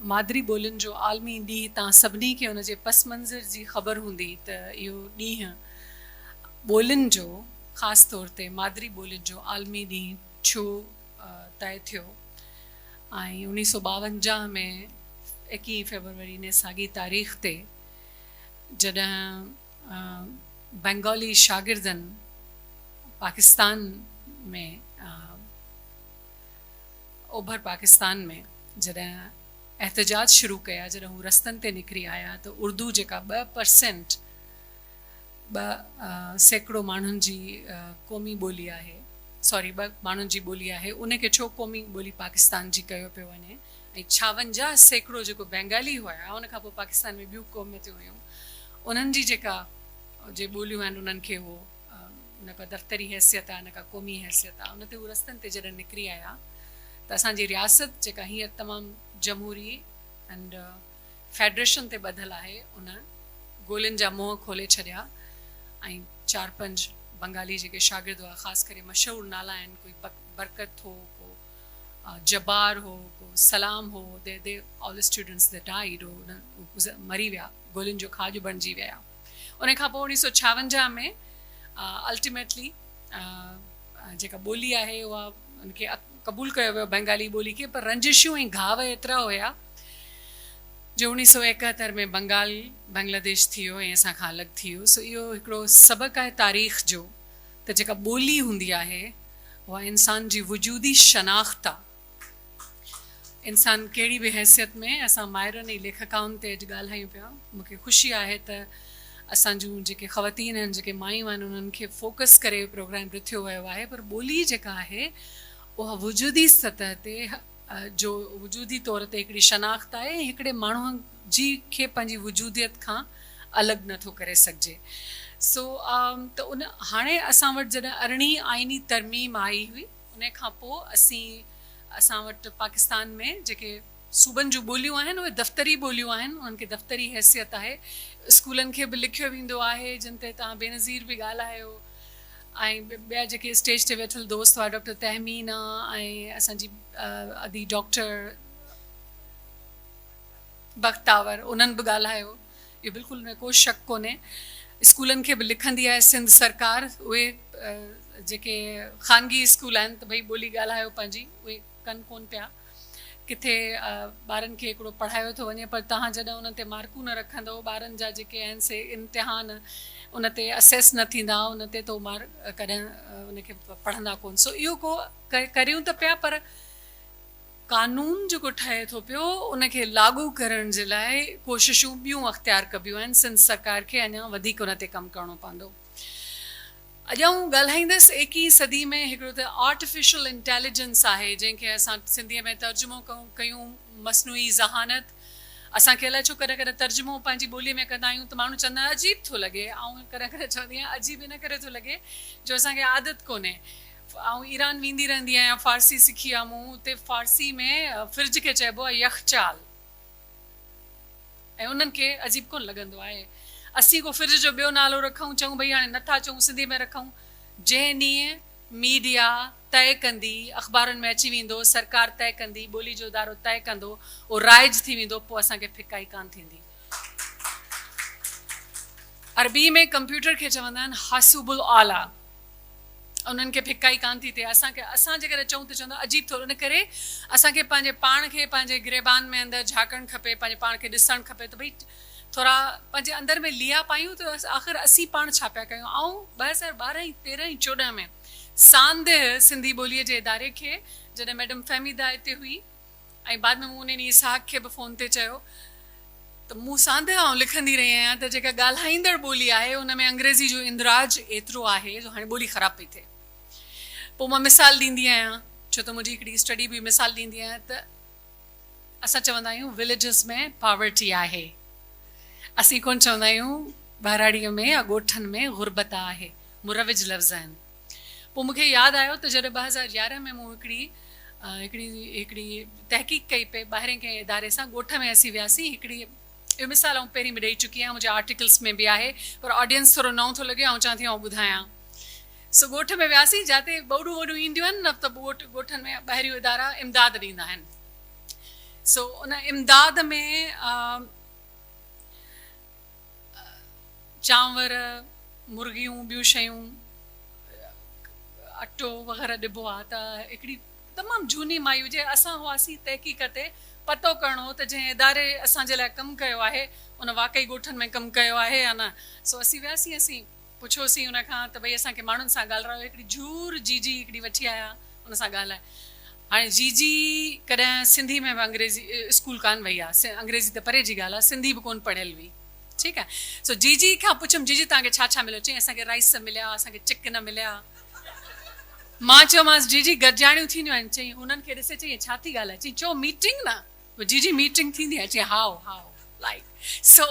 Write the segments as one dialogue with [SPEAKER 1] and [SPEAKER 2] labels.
[SPEAKER 1] مادري ٻولين جو عالمي ڏينهن تان سڀني کي ان جي پس منظر جي خبر هوندي ته اهو ڏينهن ٻولين جو خاص طور تي مادري ٻولين جو عالمي ڏينهن ڇو طئي ٿيو ۽ اڻيهه سؤ ٻاونجاهه ۾ ايڪيهين فيبروري ني ساڳي تاريخ تي جڏهن بينگالي شاگردن پاڪستان ۾ اوڀر پاڪستان ۾ جڏهن احتجاج شروع ڪيا جڏهن هو رستن تي نڪري آيا ته اردو جيڪا ٻه پرسينٽ ٻه سيڪڙو ماڻهن جي قومي ٻولي آهي سوري ٻه ماڻهن جي ٻولي آهي ان کي ڇو قومي ٻولي پاڪستان جي ڪيو پيو وڃي ۽ ڇاونجاهه سيڪڙو جيڪو بينگالي هيا ان کان پوء پاڪستان ۾ ٻيون قوميتون هيون انهن جي جيڪا جي ٻوليون آهن انهن کي هو نه ڪا دفتري حيثيت آ نه ڪا قومي حيثيت آ ان تي هو رستن تي جڏهن نڪري آيا ته اسان جي رياست جيڪا هينئر تمام جمهوري ائنڊ فيڊريشن تي ٻڌل آهي ان گولين جا منهن کولي ڇڏيا ۽ چار پنج بنگالي جيڪي شاگرد هئا خاص ڪري مشهور نالا آهن ڪوئي برڪت هو ڪو جبار هو ڪو سلام هو the the all students they died هو مري ويا گولين جو کاڄ بڻجي ويا. ان کان پوء اوڻيهه سؤ ڇاونجاهه ۾ الٽيميٽلي جيڪا ٻولي آهي اها ان کي قبول ڪيو ويو بنگالي ٻولي کي پر رنجشون ۽ گهاء ايترا هيا جو اوڻيهه سؤ ايڪهتر ۾ بنگال بنگلاديش ٿي ويو ۽ اسان کان الڳ ٿي ويو سو اهو هڪڙو سبق آهي تاريخ جو ته جيڪا ٻولي هوندي آهي اها انسان جي وجودي شناخت آهي. انسان ڪهڙي به حيثيت ۾، اسان مائرن ۽ ليکڪائن تي اڄ ڳالهايون پيا. مون کي خوشي آهي ته اسان جون جيڪي خواتين آهن، جيڪي مايون آهن انهن کي فوڪس ڪري پروگرام رٿيو ويو آهي پر ٻولي جيڪا آهي اها وجودي سطح تي جو وجودي طور تي هڪڙي شناخت آهي ۽ هڪڙي ماڻهو جي کي پنهنجي وجوديت کان الڳ نه ٿو ڪري سگهجي سو ته ان هاڻي اسان وٽ جڏهن ارڙهين آئيني ترميم آئي هئي. انهي کان پوء اسين اسان وٽ پاڪستان ۾ جيڪي صوبن جون ٻوليون آهن اهي دفتري ٻوليون آهن انهن کي دفتري حيثيت آهي اسڪولن کي به لکيو ويندو آهي جن تي توهان بينظير به ڳالهايو ۽ ٻيا جيڪي اسٽيج تي ويٺل دوست هئا ڊاڪٽر تهمينا ۽ اسان جي ادي ڊاڪٽر بختاور انهن به ڳالهايو. اهو بلڪل نه ڪو شڪ ڪونهي اسڪولن کي به لکندي آهي سنڌ سرڪار اهي جيڪي خانگي اسڪول آهن ته ڀئي ٻولي ڳالهايو پنهنجي اهي ڪن ڪون پيا ڪٿي ٻارن کي هڪڙو پڙهايو ٿو وڃي پر توهان جڏهن انهن تي مارڪون نه رکندو ٻارن جا جيڪي آهن سي امتحان ان تي اسيس نه ٿيندا ان تي تو مار ڪڏهن ان کي پڙهندا ڪون سو اهو ڪو ڪريون ته پيا پر قانون جيڪو ٺهي ٿو پيو ان کي لاڳو ڪرڻ جي لاء ڪوششون ٻيون اختيار ڪبيون آهن سنڌ سرڪار کي اڃان وڌيڪ ان تي ڪم ڪرڻو پوندو اڄ آئون ڳالهائيندس ايڪيهين صدي ۾ هڪڙو ته آرٽيفيشل انٽيليجنس آهي جنهن کي اسان سنڌي ۾ ترجمو ڪيون مصنوعي ذهانت اسان کي الائي ڇو ڪڏهن ڪڏهن ترجمو پنهنجي ٻولي ۾ ڪندا آهيون ته ماڻهو چوندا آهن عجيب ٿو لڳي آئون ڪڏهن ڪڏهن چوندي آهيان عجيب ان ڪري ٿو لڳي جو اسان کي عادت ڪونهي آئون ايران ويندي رهندي آهيان فارسي سکي آ مون اتي فارسي ۾ فرج کي چئبو آ يخچال ۽ انهن کي عجيب ڪونه لڳندو آهي اسين ڪو فرج جو ٻيو نالو رکون چئون ڀئي هاڻي نه ٿا چئون سنڌي ۾ رکون جنهن ڏينهن ميڊيا طئي ڪندي اخبارن ۾ اچي ويندو سرڪار طئي ڪندي ٻولي جو ادارو طئي ڪندو اهو رائج ٿي ويندو پوء اسان کي ڦڪائي ڪانه ٿيندي. عربي ۾ ڪمپيوٽر کي چوندا آهن حاسوب الاعليٰ. انهن کي ڦڪائي ڪانه ٿي ٿئي. اسان کي اسان جيڪڏهن چئون ته چوندا عجيب ٿو ان ڪري اسان کي پنهنجي پاڻ کي پنهنجي گريبان ۾ اندر جهاڪڻ کپي پنهنجي پاڻ کي ڏسڻ کپي ته ڀئي ٿورا پنهنجي اندر ۾ ليئا پايون ته آخر اسين پاڻ ڇا پيا ڪيون آئون ٻه هزار ٻارهن ۽ تيرهن ۽ چوڏهن ۾ ساندهه سنڌي ٻوليء جي اداري کي جڏهن ميڊم فهميده اتي هئي ۽ بعد ۾ مون انهن ئي اسحاق کي به فون تي چيو ته مون ساندهه آئون لکندي رهي آهيان ته جيڪا ڳالهائيندڙ ٻولي آهي ان ۾ انگريزي جو اندراج ايترو آهي جو هاڻي ٻولي خراب پئي ٿئي. پوء مان مثال ڏيندي آهيان ڇو ته منهنجي هڪڙي اسٽڊي به مثال ڏيندي آهي ته اسان چوندا آهيون Villages ۾ Poverty آهي اسين ڪونه چوندا آهيون ٻهراڙيء ۾ يا ڳوٺن ۾ غربت آهي مروج لفظ آهن. پوء مون کي ياد آيو ته جڏهن ٻه هزار يارهن ۾ مون هڪڙي هڪڙي هڪڙي تحقيق ڪئي پئي ٻاهرين ڪنهن اداري سان ڳوٺ ۾ اسين وياسين هڪڙي اهو مثال آئون پهرين به ڏئي چڪي آهيان منهنجي آرٽيڪلس ۾ به آهي پر آڊينس ٿورو نئون ٿو لڳي آئون چوان ٿي آئون ٻڌايان سو ڳوٺ ۾ وياسين جاتي ٻوڏون ووڏون اينديون آهن نه ته ڳوٺ ڳوٺن ۾ ٻاهريون ادارا امداد ڏيندا آهن سو ان امداد ۾ چانور، مرغيون، ٻيون شيون، اٽو وغيره ڏبو آ ته هڪڙي تمام جهوني مائي هجي اسان هئاسين تحقيق تي پتو ڪرڻو هو ته جنهن اداري اسان جي لاء ڪم ڪيو آهي ان واقعي ڳوٺن ۾ ڪم ڪيو آهي يا نه سو اسين وياسين اسين پڇيوسين ان کان ته ڀئي اسان کي ماڻهن سان ڳالرايو هڪڙي جهور جي جي هڪڙي وٺي آيا ان سان ڳالهاء هاڻي جي جي ڪڏهن سنڌي ۾ به انگريزي اسڪول ڪانه وئي آ انگريزي ته پري جي ڳالهه آ سنڌي به ڪون پڙهيل هئي ٺيڪ آ سو جي جي کان پڇيم جي جي توهان کي ڇا ڇا مليو چئين اسان کي رائس مليا اسان کي چڪن مليا مان چيومانس جي جي گڏجاڻيون ٿينديون آهن چئين انهن کي ڏسي چئين هي ڇا ٿي ڳالهائي چئين چئو ميٽنگ نه جي جي ميٽنگ ٿيندي آهي چي هائو هائو لائيڪ سو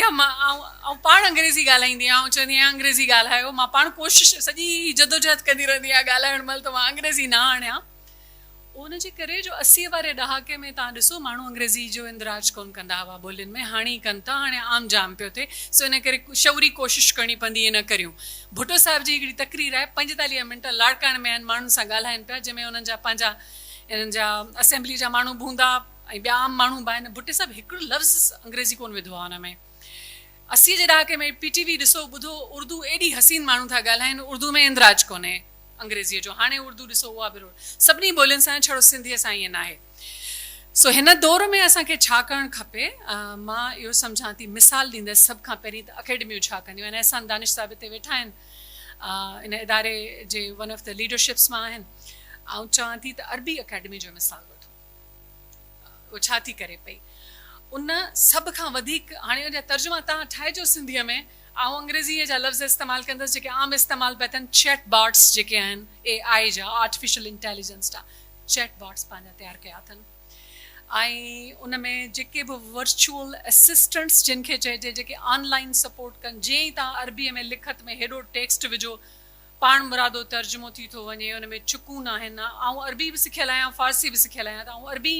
[SPEAKER 1] يا مان آئون پاڻ انگريزي ڳالهائيندي آهيان آئون چوندي آهيان انگريزي ڳالهايو مان پاڻ ڪوشش سڄي جدوجهد ڪندي رهندي آهيان ڳالهائڻ مهل ته مان انگريزي نه آڻيان ان جي ڪري جو اسيء واري ڏهاڪي ۾ تهان ڏسو ماڻهو انگريزي جو اندراج ڪون ڪندا هئا ٻولين ۾ هاڻي ئي ڪن ٿا هاڻي عام جام پيو ٿئي سو ان ڪري شعوري ڪوشش ڪرڻي پوندي ائين نه ڪريون ڀٽو صاحب جي هڪڙي تقرير آهي پنجيتاليهه منٽ لاڙڪاڻي ۾ آهن ماڻهن سان ڳالهائين پيا جنهن ۾ انهن جا پنهنجا انهن جا اسيمبليء جا ماڻهو به هوندا ۽ ٻيا عام ماڻهو به آهن. ڀٽي صاحب هڪڙو لفظ انگريزي ڪونه وڌو آهي ان ۾. اسيء جي ڏهاڪي ۾ پي ٽي وي ڏسو ٻڌو اردو ايڏي حسين ماڻهو ٿا ڳالهائين اردو ۾ اندراج ڪونهي انگريزيء جو هاڻي اردو ڏسو اها به روڙ سڀني ٻولين سان آهي ڇڙو سنڌيء سان ائين ناهي. سو هن دور ۾ اسان کي ڇا ڪرڻ کپي؟ مان اهو سمجهان ٿي مثال ڏيندس سڀ کان پهرين ته اڪيڊميون ڇا ڪنديون آهن؟ احسان دانش صاحب هتي ويٺا آهن. ان اداري جي ون آف دي ليڊرشپس مان آهن آئون چوان ٿي ته عربي اڪيڊمي جو مثال وٺو اهو ڇا ٿي ڪري پئي ان سڀ کان وڌيڪ هاڻي ان جا ترجما تهان ٺاهجو سنڌي ۾ آئون انگريزي جا لفظ استعمال ڪندس جيڪي عام استعمال پيا ٿين چيٽ باٽس جيڪي آهن اي آئي جا آرٽيفيشل انٽيليجنس جا چيٽ باٽس پنهنجا تيار ڪيا اٿن ۽ ان ۾ جيڪي به ورچوئل اسسٽنٽس جن کي چئجي جيڪي آن لائين سپورٽ ڪن جيئن ئي توهان عربيء ۾ لکت ۾ هيڏو ٽيڪسٽ وجهو پاڻمرادو ترجمو ٿي ٿو وڃي ان ۾ چڪون ناهن آئون عربي به سکيل آهيان فارسي به سکيل آهيان ته آئون عربي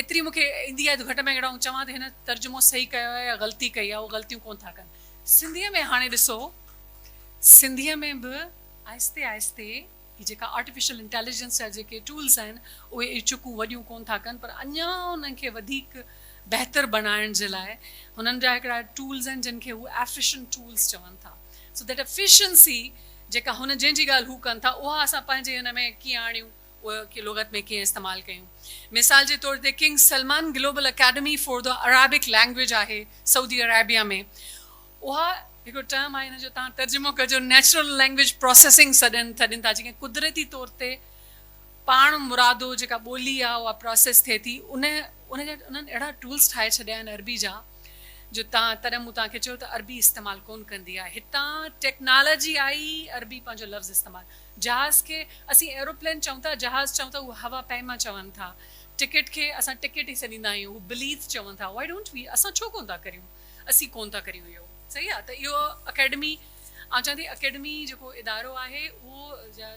[SPEAKER 1] ايتري مون کي ايندي آهي جو گهٽ ۾ گهٽ آئون چوان ته هن ترجمو صحيح ڪيو آهي يا غلطي ڪئي آهي اهي غلطيون ڪونه ٿا ڪن. سنڌيء ۾ هاڻي ڏسو سنڌيء ۾ به آهستي آهستي. هي جيڪا آرٽيفيشل انٽيليجنس جا جيڪي ٽولز آهن اهي اهي چڪون وڏيون ڪونه ٿا ڪن پر اڃا انهن کي وڌيڪ بهتر بڻائڻ جي لاء هنن جا هڪڙا ٽولز آهن جن کي هو ايفيشنٽ ٽولز چون ٿا سو ڌيٽ ايفيشنسي جيڪا هن جنهن جي ڳالهه هو ڪن ٿا اها اسان پنهنجي هن ۾ ڪيئن آڻيون اها لغت ۾ ڪيئن استعمال ڪيون مثال جي طور تي king Salman global academy for the Arabic language آهي سعودي عريبيا ۾ اها هڪڙو ٽرم آهي ان جو توهان ترجمو ڪجو نيچرل لينگويج پروسيسنگ سڏين سڏين ٿا جيڪي قدرتي طور تي پاڻ مرادو جيڪا ٻولي آهي اها پروسيس ٿئي ٿي ان ان جا انهن اهڙا ٽولس ٺاهي ڇڏيا آهن عربي جا جو تان تڏهن مون توهان کي چيو ته عربي استعمال ڪون ڪندي آهي هتان ٽيڪنالاجي آئي عربي پنهنجو لفظ استعمال جهاز کي اسين ايروپلين چئون ٿا جهاز چئون ٿا اهو هوا پيما چون ٿا ٽڪيٽ کي اسان ٽڪيٽ ئي سڏيندا آهيون اهو بليٿ چون ٿا وائي ڊونٽ وي اسان ڇو ڪون ٿا ڪريون. اسين ڪون ٿا ڪريون اهو صحيح آهي ته اهو اڪيڊمي آئون چوان ٿي اڪيڊمي جيڪو ادارو آهي اهو جا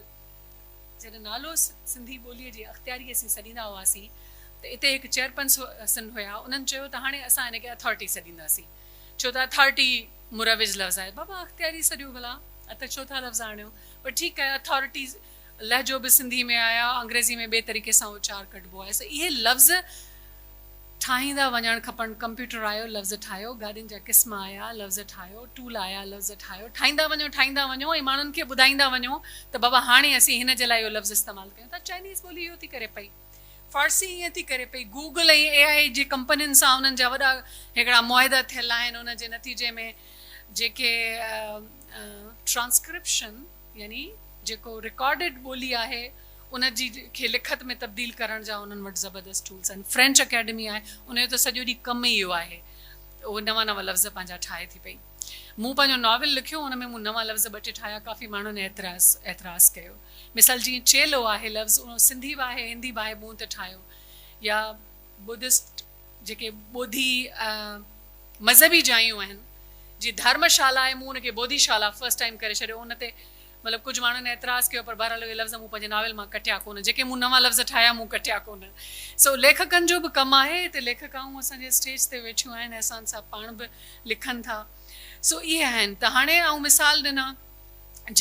[SPEAKER 1] جڏهن نالو سنڌي ٻولي جي اختياري اسين سڏيندا هئاسين ته اتي هڪ چيئرپنسن هيا انهن چيو ته هاڻي اسان هن کي اٿارٽي سڏينداسين ڇو ته اٿارٽي مروج لفظ آهي بابا اختياري سڏيو ڀلا اتي ڇو ٿا لفظ آڻيو پر ٺيڪ آهي اٿارٽي لهجو به سنڌي ۾ آهي، انگريزي ۾ ٻئي طريقي سان اچار ڪڍبو آهي، سو اهي لفظ ٺاهيندا وڃڻ کپن، ڪمپيوٽر آيو، لفظ ٺاهيو، گاڏين جا قسم آيا، لفظ ٺاهيو، ٽول آيا، لفظ ٺاهيو، ٺاهيندا وڃو، ٺاهيندا وڃو ۽ ماڻهن کي ٻڌائيندا وڃو ته بابا هاڻي اسين هن جي لاء اهو لفظ استعمال ڪيون ٿا، چائنيز ٻولي اهو ٿي ڪري پئي، فارسي ائين ٿي ڪري پئي، گوگل ۽ اي آء اي جي ڪمپنين سان انهن جا وڏا هڪڙا معاهدا ٿيل آهن، ان جي نتيجي ۾ جيڪي ٽرانسڪرپشن. يعني جيڪو رڪارڊڊ ٻولي آهي ان جي کي لکت ۾ تبديل ڪرڻ جا انهن وٽ زبردست ٽولز آهن. فرينچ اڪيڊمي آهي ان جو ته سڄو ڏينهن ڪم ئي اهو آهي اهو نوان نوان لفظ پنهنجا ٺاهي ٿي پئي. مون پنهنجو ناول لکيو ان ۾ مون نوان لفظ ٻه ٽي ٺاهيا ڪافي ماڻهن اعتراض اعتراض ڪيو مثال جيئن چيلو آهي لفظ اهو سنڌي به آهي هندي به آهي مون ته ٺاهيو يا بدسٽ جيڪي ٻوڌي مذهبي جايون آهن جي ڌارما شالا آهي مون ان کي بوڌي شالا فرسٽ ٽائيم ڪري ڇڏيو ان تي مطلب ڪجهه ماڻهن اعتراض ڪيو پر بهرحال اهي لفظ مون پنهنجي ناول مان ڪٽيا ڪونه جيڪي مون نوان لفظ ٺاهيا مون ڪٽيا ڪونه سو ليکڪن جو به ڪم آهي هتي ليکڪائون اسان جي اسٽيج تي ويٺيون آهن احسان صاحب پاڻ به لکن ٿا سو اهي آهن ته هاڻي آئون مثال ڏنا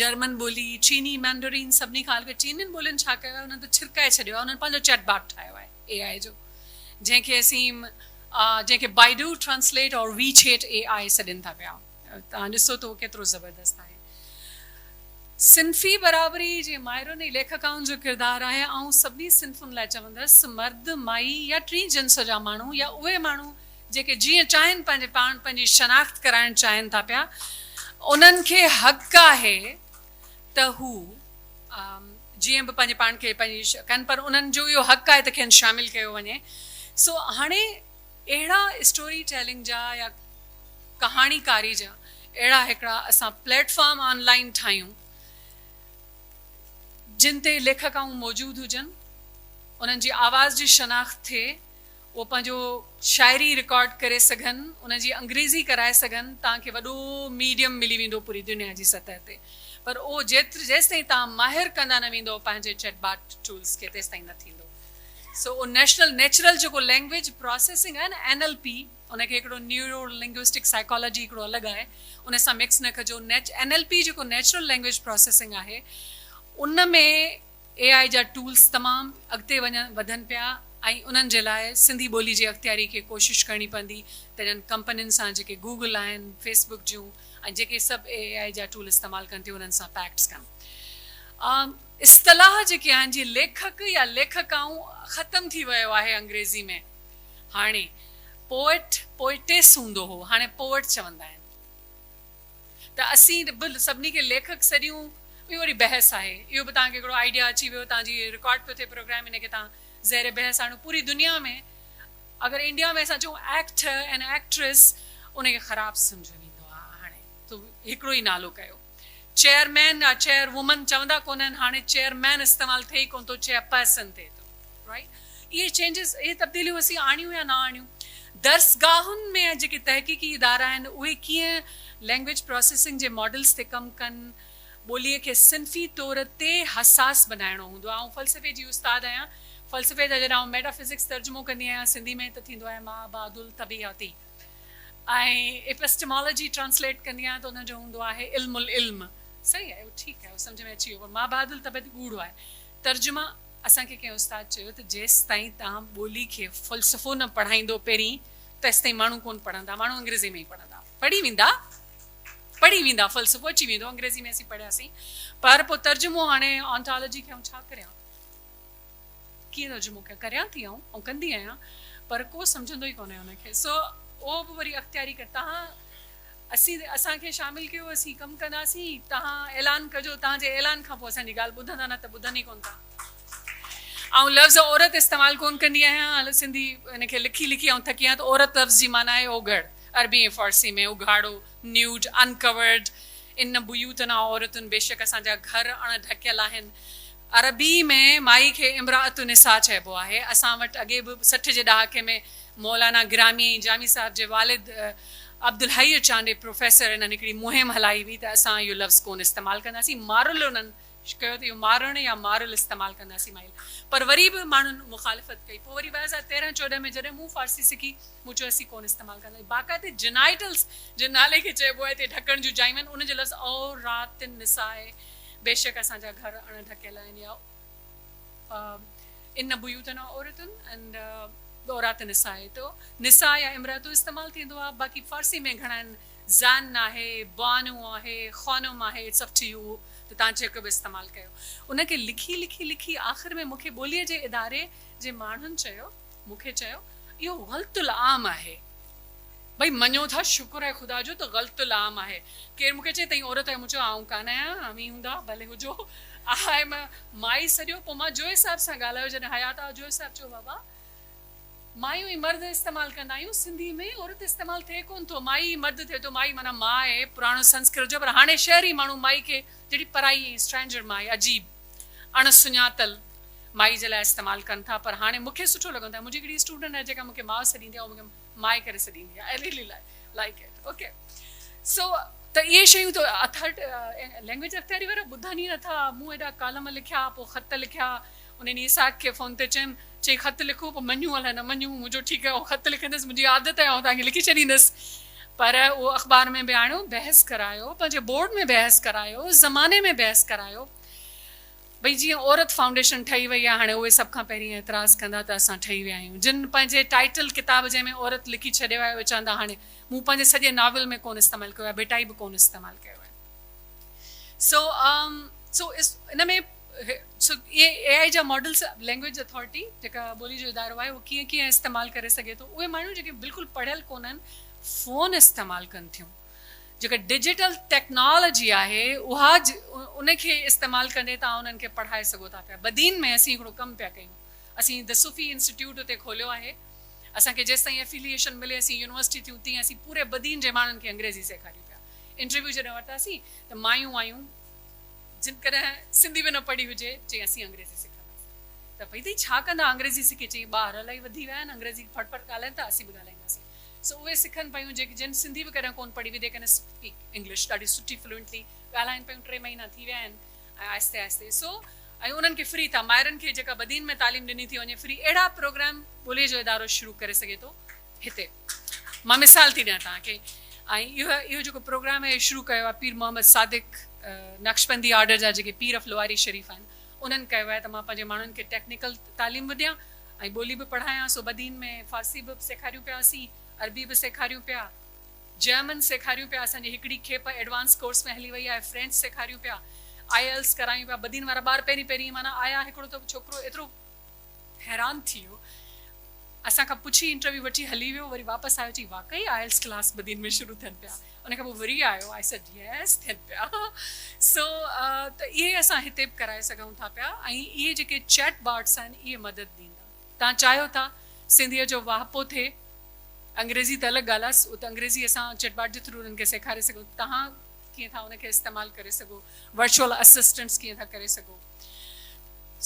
[SPEAKER 1] جرمن ٻولي چيني مينڊرين سڀني کان هلڪي چينين ٻولين ڇا ڪيو آهي انهن ته ڇرڪائي ڇڏيو آهي انهن پنهنجو چيٽ باٽ ٺاهيو آهي اي آء جو جنهن کي اسين جنهن کي Baidu translate or WeChat A I سڏين ٿا پيا توهان ڏسو ته اهو ڪيترو زبردست آهي. صنفي برابري جي ماهرن ۽ ليکڪائن جو ڪردار آهي آئون سڀني صنفن لاء چوندس مرد، مائي يا ٽين جنس جا ماڻهو يا اهي ماڻهو جيڪي جيئن چاهين پنهنجي پاڻ پنهنجي شناخت ڪرائڻ چاهين ٿا پيا انهن کي حق آهي ته هو جيئن به پنهنجي پاڻ کي پنهنجي ڪن پر انهن جو اهو حق آهي ته کين شامل ڪيو وڃي سو هاڻي اهڙا اسٽوري ٽيلنگ جا يا ڪهاڻي ڪاري جا اهڙا هڪڙا اسان پليٽ فارم آن لائين ٺاهيون جن تي ليکڪائون موجود هجن انهن جي آواز جي شناخت ٿئي اهو پنهنجو شاعري رڪارڊ ڪري سگهن ان جي انگريزي ڪرائي سگهن توهان کي وڏو ميڊيم ملي ويندو پوري دنيا جي سطح تي پر اهو جيتر جيستائين توهان ماهر ڪندا نه ويندو پنهنجي چيٽ باٽ ٽولز کي تيستائين نه ٿيندو سو اهو نيشنل نيچرل جيڪو لينگويج پراسيسنگ آهي نه اين ايل پي ان کي هڪڙو نيورو لنگوسٽڪ سائيڪالاجي هڪڙو الڳ آهي ان سان مڪس نه ڪجو اين ايل پي جيڪو نيچرل لينگويج پراسيسنگ آهي ان ۾ اي آء جا ٽولز تمام اڳتي وڃن وڌن پيا ۽ انهن جي لاء سنڌي ٻولي جي اختياري کي ڪوشش ڪرڻي پوندي ته انهن ڪمپنين سان جيڪي گوگل آهن فيس بڪ جون ۽ جيڪي سڀ اي آء جا ٽول استعمال ڪن ٿيون انهن سان پيڪٽس ڪن اصطلاح جيڪي آهن جي ليکڪ يا ليکڪائون ختم ٿي ويو آهي انگريزي ۾ هاڻي پوئٽ پوئٽيس هوندو هو هاڻي پوئٽ چوندا آهن. ته اسين به سڀني کي ليکڪ سڏيون اهو وري بحث آهي اهو به توهان کي هڪڙو آئيڊيا اچي ويو توهان جي رڪارڊ پيو ٿئي پروگرام ان کي توهان زير بحث آڻيو پوري دنيا ۾ اگر انڊيا ۾ اسان چئون ايڪٽر اينڊ ايڪٽريس ان کي خراب سمجهيو ويندو آهي هاڻي تو هڪڙو ئي نالو ڪيو چيئرمين يا چيئر وومن چوندا ڪونهن هاڻي چيئرمين استعمال ٿئي ئي ڪونه ٿو چيئرپرسن ٿئي ٿو. اهي چينجز، اهي تبديليون اسين آڻيون يا نه آڻيون، درسگاهن ۾ جيڪي تحقيقي ادارا آهن اهي ڪيئن لينگويج پراسيسنگ جي ماڊلز تي ڪم ڪن، ٻوليء کي صنفي طور تي حساس بنائڻو هوندو آهي. آئون فلسفي جي استاد آهيان، فلسفي جا جڏهن آئون ميٽا فزڪس ترجمو ڪندي آهيان سنڌي ۾ ته ٿيندو آهي مابعد الطبعياتي ۽ ايپسٽيمالاجي ٽرانسليٽ ڪندي آهيان ته ان جو هوندو آهي علم العلم صحيح اهو ٺيڪ آهي اهو سمجهه ۾ اچي ويو پر مابعد الطبعياتي ڳوڙهو آهي ترجما اسان کي ڪنهن استاد چيو ته جيستائين توهان ٻولي کي فلسفو نه پڙهائيندو پهرين تيستائين ماڻهو ڪونه پڙهندا ماڻهو انگريزي ۾ ئي پڙهندا پڙهي ويندا پڙهي ويندا فلسفو اچي ويندو انگريزي ۾ اسين پڙهياسين پر پوء ترجمو هاڻي آنٿالوجي کي آئون ڇا ڪريان ڪيئن ترجمو ڪيان ڪريان ٿي آئون آئون ڪندي آهيان پر ڪو سمجهندو ئي ڪونه ان کي سو اهو به وري اختياري ڪري تهان اسين اسان کي شامل ڪيو اسين ڪم ڪنداسين توهان اعلان ڪجو توهان جي اعلان کان پوء اسان جي ڳالهه ٻڌندا نه ته ٻڌن ئي ڪون ٿا آئون لفظ عورت استعمال ڪون ڪندي آهيان سنڌي ان کي لکي لکي آئون ٿڪي آهيان ته عورت لفظ جي معنيٰ آهي اوگهڙ عربي ۽ فارسي ۾ اگهاڙو Nude Uncovered ان بيوتنا عورتن بيشڪ اسان جا گهر اڻ ڍڪيل آهن عربي ۾ مائي کي امرأة النساء چئبو آهي اسان وٽ اڳي به سٺ جي ڏهاڪي ۾ مولانا گرامي جامي صاحب جي والد عبدالحئي چانڊئي پروفيسر انهن هڪڙي مهم هلائي هئي ته اسان اهو لفظ ڪونه استعمال ڪنداسين مارل انهن ڪيو ته اهو مارڻ يا مارل استعمال ڪنداسين مائل پر وري به ماڻهن مخالفت ڪئي پوء وري ٻه هزار تيرهن چوڏهن ۾ جڏهن مون فارسي سکي مون چيو اسين ڪونه استعمال ڪنداسين باقاعدي جنائيٽلس جي نالي کي چئبو آهي تي ڍڪڻ جون جايون آهن انهن جو لفظ عورات النساء بيشڪ اسان جا گهر اڻ ڍڪيل آهن يا ان بيوتنا عورت and عورات نساء تو نساء يا امرأة استعمال ٿيندو آ باقي فارسي ۾ گهڻائن زن آهي بانو آهي خانم آهي اٽس اپ ٽو يو ته تان جيڪو به استعمال ڪيو ان کي لکي لکي لکي آخر ۾ مونکي ٻولي جي اداري جي ماڻهن چيو مون کي چيو اهو غلط العام آهي. ڀئي مڃو ٿا شڪر آهي خدا جو ته غلط العام آهي. ڪير مون کي چئي تين عورت آهي مون چيو آئون ڪانه آهيان اوهين هوندا ڀلي هجو آئم مائي سڏيو پوء مان جويي صاحب سان ڳالهايو جڏهن حيات آهو جويي صاحب چيو بابا مايون ئي مرد استعمال ڪندا آهيون سنڌي ۾ عورت استعمال ٿئي ڪونه ٿو مائي ئي مرد ٿئي ٿو مائي معنيٰ ماء آهي پراڻو سنسڪرت جو پر هاڻي شهري ماڻهو مائي کي جهڙي پرائي، Stranger، مائي، عجيب، اڻ سڃاتل، مائي جي لاء استعمال ڪن ٿا پر هاڻي مون کي سٺو لڳندو آهي، منهنجي هڪڙي اسٽوڊنٽ آهي جيڪا مون کي ماء سڏيندي آهي اها مون کي مائي ڪري سڏيندي آهي I really like it ok so ته اهي شيون ته اٿرٽ لينگويج اختياري وارا ٻڌن ئي نٿا مون ايڏا ڪالم لکيا پوء خط لکيا. انهن ايساڪ کي فون تي چيم، چي خط لکو پوء مڃون الائي نه مڃون، مون چيو ٺيڪ آهي آئون خط لکندس، منهنجي عادت آهي آئون توهان کي لکي ڇڏيندس. پر اهو اخبار ۾ به آڻيو، بحث ڪرايو، پنهنجي بورڊ ۾ بحث ڪرايو، زماني ۾ بحث ڪرايو. ڀئي جيئن عورت فائونڊيشن ٺهي وئي آهي هاڻي اهي سڀ کان پهرين اعتراض ڪندا ته اسان ٺهي ويا آهيون. جن پنهنجي ٽائيٽل ڪتاب جنهن ۾ عورت لکي ڇڏيو آهي اهي چوندا هاڻي مون پنهنجي سڄي ناول ۾ ڪونه استعمال ڪيو آهي ڀٽائي به ڪونه استعمال ڪيو آهي. سو سو ان ۾ اي آء جا ماڊلز لينگويج اٿارٽي جيڪا ٻولي جو ادارو آهي اهو ڪيئن ڪيئن استعمال ڪري سگهي ٿو اهي ماڻهون جيڪي بلڪل پڙهيل ڪونهن فون استعمال ڪن ٿيون جيڪا ڊجيٽل ٽيڪنالاجي آهي اها ان کي استعمال ڪندي توهان انهن کي پڙهائي سگهو ٿا پيا بدين ۾ اسين هڪڙو ڪم پيا ڪيون اسين دي صوفي انسٽيٽيوٽ اتي کوليو آهي اسان کي جيستائين افيليئيشن ملي اسين يونيورسٽي ٿيون تيئن اسين پوري بدين جي ماڻهن کي انگريزي سيکاريون پيا انٽرويو جڏهن ورتاسين ته مايون وايون جن ڪڏهن سنڌي به نه پڙهي هجي چئي اسين انگريزي سکنداسين ته ڀئي تي ڇا ڪندا انگريزي سکي چئي ٻاهر الاهي وڌي ويا آهن انگريزي ڦڙ ڦڙ ڳالهائين ٿا اسين به ڳالهائينداسين سو اهي سکن پيون جيڪي جن سنڌي به ڪڏهن ڪون پڙهي وڌي ڪنهن سپيڪ انگلش ڏاڍي سٺي فلوئنٽلي ڳالهائين پيون ٽي مهينا ٿي ويا آهن ۽ آهستي آهستي سو ۽ انهن کي فري ٿا مائرن کي جيڪا بدين ۾ تعليم ڏني ٿي وڃي فري اهڙا پروگرام ٻولي جو ادارو شروع ڪري سگهي ٿو. هتي مان مثال ٿي ڏيان توهان کي ۽ اهو اهو جيڪو پروگرام هي شروع ڪيو آهي پير محمد صادق نقشبندي آرڊر جا جيڪي پير اف لواري شريف آهن انهن ڪيو آهي ته مان پنهنجي ماڻهن کي ٽيڪنيڪل تعليم به ڏيان ۽ ٻولي به پڙهايان سو بدين ۾ فارسي به سيکاريون پيا اسين عربي به سيکاريون پيا جيمن سيکاريون پيا اسان جي هڪڙي کيپ ايڊوانس ڪورس ۾ هلي وئي آهي فرينچ سيکاريون پيا آئي ايلس ڪرايون پيا بدين وارا ٻار پهرين پهرين معنيٰ آيا هڪڙو ته ڇوڪرو ايترو حيران ٿي ويو. اسان کان پڇي انٽرويو وٺي هلي ويو. وري واپس آيو چي واقعي آئلس ڪلاس بدين ۾ شروع ٿين پيا. ان کان پوء وري آيو آء سيڊ ييس ٿين پيا. سو ته اهي اسان هتي به ڪرائي سگهون ٿا پيا ۽ اهي جيڪي چيٽ باٽس آهن اهي مدد ڏيندا. تان چاهيو ٿا سنڌيء جو واهپو ٿئي انگريزي ته الڳ ڳالهه آهي سو ته انگريزي اسان چيٽ باٽ جي ٿرو انهن کي سيکاري سگهون تهان ڪيئن ٿا ان کي استعمال ڪري سگهو ورچوئل اسسٽنٽس ڪيئن ٿا ڪري سگهو.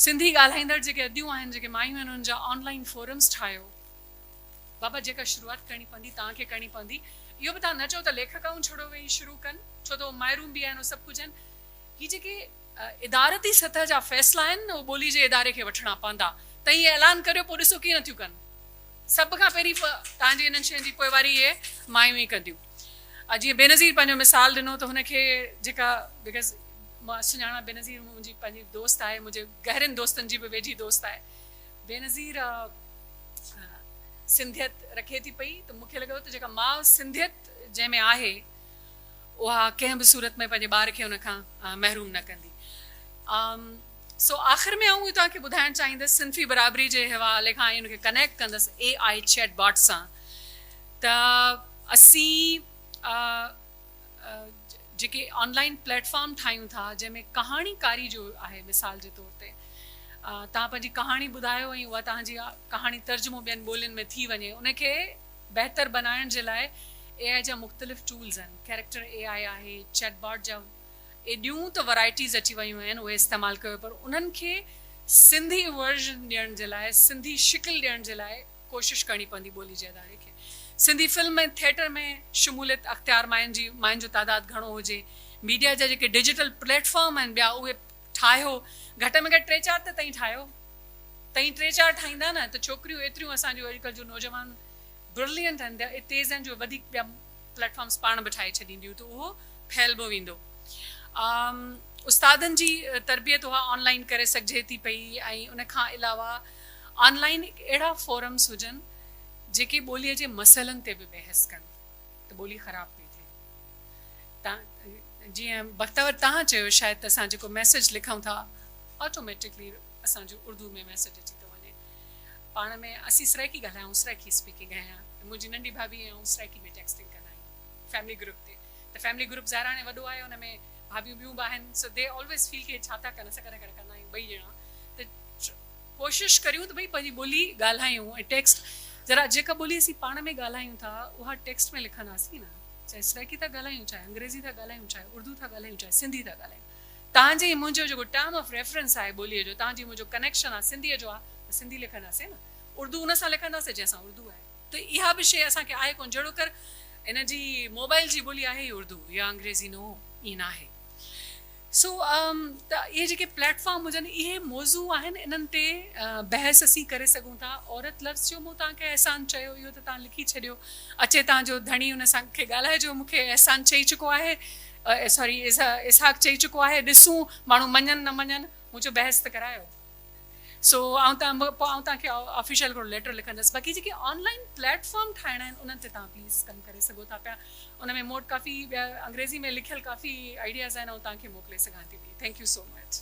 [SPEAKER 1] سنڌي ڳالهائيندڙ جيڪي اديون آهن جيڪي مايون آهن انهن جا آن لائين فورمز ٺاهيو. بابا جيڪا شروعات ڪرڻي پوندي توهان کي ڪرڻي پوندي اهو به توهان نه چئو ته ليکڪائون ڇڙو ويهي شروع ڪن ڇو ته اهو مائرون به آهن اهو سڀ ڪجهه آهن هي جيڪي ادارتي سطح جا فيصلا آهن اهو ٻولي جي اداري کي وٺڻا پوندا ته هي اعلان ڪريو پوء ڏسو ڪيئن ٿيون ڪن سڀ کان پهرين توهان جي انهن شين جي پوئواري اهي مايون ئي ڪنديون. آ جيئن بينظير پنهنجو مثال ڏنو ته هن کي جيڪا بيڪاز مان سڃاڻان بينظير منهنجي پنهنجي دوست آهي منهنجي گهرين دوستن جي به ويجهي دوست آهي بينظير سنڌيت رکي ٿي پئي ته مونکي لڳو ته جيڪا ماء سنڌيت جنهن ۾ آهي اها ڪنهن به صورت ۾ پنهنجي ٻار کي ان کان محروم نه ڪندي سو آخر ۾ آئون توهان کي ٻڌائڻ چاهيندس صنفي برابري جي حوالي کان ان کي ڪنيڪٽ ڪندس اي آئي چيٽ باٽ سان ته اسين آء جيڪي آن لائين پليٽ فارم ٺاهيون ٿا جنهن ۾ ڪهاڻي ڪاري جو آهي مثال جي طور تي توهان پنهنجي ڪهاڻي ٻڌايو ۽ اها توهان جي ڪهاڻي ترجمو ٻين ٻولين ۾ ٿي وڃي ان کي بهتر بنائڻ جي لاء اي آء جا مختلف ٽولز آهن ڪيريڪٽر اي آء آهي چيٽ باٽ جا ايڏيون ته ورايٽيز اچي ويون آهن اهي استعمال ڪيو پر انهن کي سنڌي ورزن ڏيڻ جي لاء سنڌي شڪل ڏيڻ جي لاء ڪوشش ڪرڻي پوندي ٻولي جي اداري کي سنڌي فلم ۽ ٿيٽر ۾ شموليت اختيار ماين جي ماين جو تعداد گهڻو هجي ميڊيا جا جيڪي ڊجيٽل پليٽ فارم آهن ٻيا اهي ٺاهيو گهٽ ۾ گهٽ ٽي چار ته تئين ٺاهيو تئين ٽي چار ٺاهيندا نه ته ڇوڪريون ايتريون اسان جو اڄڪلھ جو نوجوان برلينٽ آهن ٻيا تيز آهن جو وڌيڪ ٻيا پليٽ فارمس پاڻ به ٺاهي ڇڏينديون ته اهو ڦهلبو ويندو استادن جي تربيت اها آن لائين ڪري سگهجي ٿي پئي ۽ ان کان علاوه آن لائين اهڙا فورمز هجن جيڪي ٻوليء جي مسئلن تي به بحث ڪن ته ٻولي خراب پئي ٿئي. جيئن بختور تهان چيو شايد ته اسان جيڪو ميسيج لکون ٿا آٽوميٽڪلي اسان جو اردوء ۾ ميسيج اچي ٿو وڃي. پاڻ ۾ اسين سرائيڪي ڳالهايا آهون سرائيڪي اسپيڪنگ ۽ منهنجي ننڍي ڀاڀي ۽ آئون سرائيڪي ۾ ٽيڪسٽنگ ڪندا آهيون فيملي گروپ تي ته فيملي گروپ ظاهر هاڻي وڏو آهي ان ۾ ڀاڀيون ٻيون به آهن سو دي آلويز فيل ڪي هي ڇا ٿا ڪن اسان ڪڏهن ڪڏهن ڪندا آهيون ٻئي ڄڻا ته ڪوشش ڪريون ته ڀئي پنهنجي ٻولي ڳالهايون ۽ ٽيڪسٽ ذرا جيڪا ٻولي اسين پاڻ ۾ ڳالهايون ٿا اها ٽيڪسٽ ۾ لکنداسين نه چاهي سرائيڪي ٿا ڳالهايون چاهي انگريزي ٿا ڳالهايون چاهي اردو ٿا ڳالهايون چاهي سنڌي ٿا ڳالهايون تهان جي منهنجو جيڪو ٽرم آف ريفرنس آهي ٻولي جو تهان جي منهنجو ڪنيڪشن آهي سنڌي جو آهي ته سنڌي لکنداسين نه اردو ان سان لکنداسين جنهن سان اردو آهي ته اها به شيء اسان کي آهي ڪونه جهڙوڪر ان جي موبائل جي ٻولي آهي ئي اردو يا انگريزي نو ائين ناهي. سو ته اهي جيڪي پليٽ فارم هجن اهي موضوع آهن انهن تي بحث اسين ڪري سگهون ٿا. عورت لفظ جو مون توهان کي احسان چيو اهو ته توهان لکي ڇڏيو اچي توهان جو ڌڻي ان سان کي ڳالهائجو مون کي احسان چئي چڪو آهي سوري اسحاق چئي چڪو آهي ڏسون ماڻهو مڃن نه مڃن مون چيو بحث ته ڪرايو. سو آئون تان پوء آئون تان کي آفيشل هڪڙو ليٽر لکندس باقي جيڪي آن لائين پليٽ فارم ٺاهڻا آهن انهن تي تان پليز ڪم ڪري سگهو ٿا پيا ان ۾ موٽ ڪافي ٻيا انگريزي ۾ لکيل ڪافي آئيڊياز آهن آئون تان کي موڪلي سگهان ٿي پئي ٿينڪ يو سو مچ.